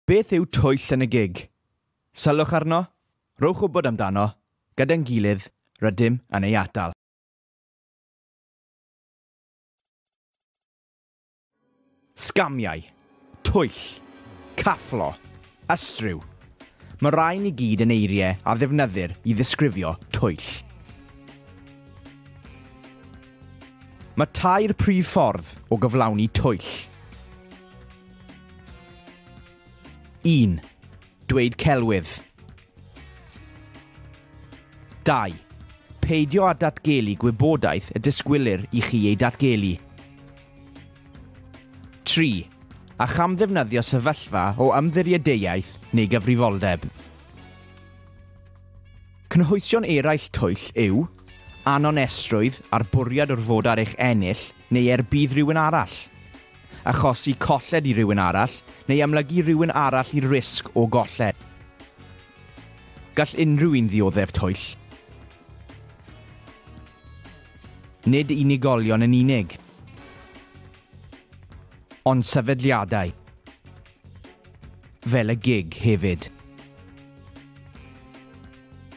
Beth yw twyll yn y gig? Sylwch arno, rhowch wybod amdano, gyda'n gilydd, rydym yn ei atal. Sgamiau, twyll, cafflo, ystryw, Mae rhain i gyd yn eiriau a ddefnyddir i ddisgrifio twyll. Mae tair prif ffordd o gyflawni twyll. 1. Dweud celwydd. 2. Peidio â datgelu gwybodaeth y disgwylir i chi ei datgelu. 3. A chamddefnyddio sefyllfa o ymddiriedeiaeth neu gyfrifoldeb. Cynhwysion eraill twyll yw anonesrwydd a'r bwriad o'r fod ar eich ennill neu er budd rhywun arall. achosi colled i rywun arall neu amlygu rhywun arall i'r risg o golled. Gall unrhyw un ddioddef twyll. Nid unigolion yn unig, ond sefydliadau. fel y gig hefyd.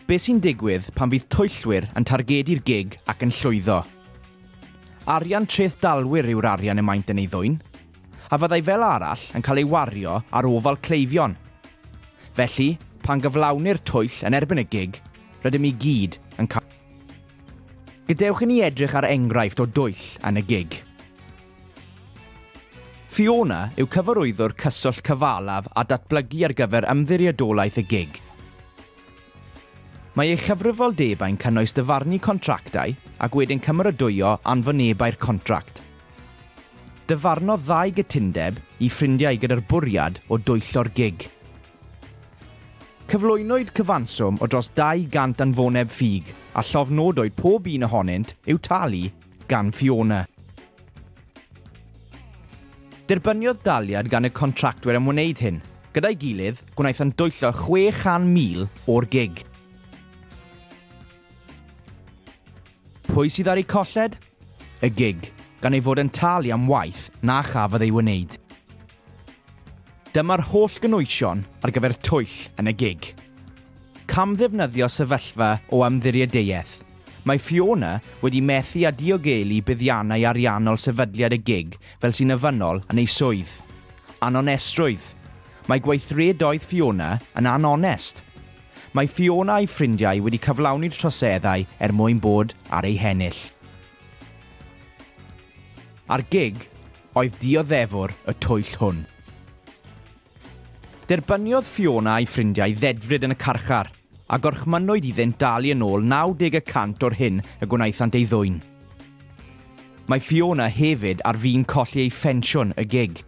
Be sy'n digwydd pan fydd twyllwyr yn targedu'r gig ac yn llwyddo? Arian treth dalwyr yw'r arian y maent yn ei ddwyn, a fyddai fel arall yn cael ei wario ar ofal cleifion. Felly, pan gyflawnir twyll yn erbyn y gig, rydym i gyd yn cael. Gadewch i ni edrych ar enghraifft o dwyll yn y gig. Fiona yw cyfarwyddwr cyswllt cyfalaf a datblygu ar gyfer Ymddiriedolaeth y gig. Mae ei chyfrifoldebau'n cynnwys dyfarnu contractau ac wedyn cymeradwyo anfonebau'r contract. Dyfarnodd ddau gytundeb i ffrindiau gyda'r bwriad o dwyllo'r gig. Cyflwynwyd cyfanswm o dros 200 anfoneb ffug a llofnodwyd pob un ohonynt i'w talu gan Fiona. Derbyniodd daliad gan y contractwyr am wneud hyn. Gyda'i gilydd, gwnaethant dwyllo 600,000 o'r gig. Pwy sydd ar eu colled? Y gig, gan ei fod yn talu am waith na chafodd ei wneud. Dyma'r holl gynwysion ar gyfer twyll yn y gig. Camddefnyddio sefyllfa o ymddiriedeiaeth, mae Fiona wedi methu â diogelu buddiannau ariannol sefydliad y gig fel sy'n ofynnol yn ei swydd. Anonestrwydd, mae gweithredoedd Fiona yn anonest. Mae Fiona a'i ffrindiau wedi cyflawni'r troseddau er mwyn bod ar eu hennill. Ar gig, oedd dioddefwr y twyll hwn. Derbyniodd Fiona a'i ffrindiau ddedfryd yn y carchar, a gorchmynnwyd iddynt dalu yn ôl 90 y cant o'r hyn y gwnaethant ei ddwyn. Mae Fiona hefyd ar fin colli ei phensiwn y gig.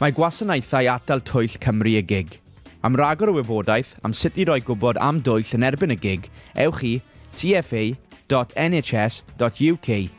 Mae Gwasanaethau Atal Twyll Cymru y gig. Am ragor o wybodaeth am sut i roi gwybod am dwyll yn erbyn y gig, ewch i cfa.nhs.uk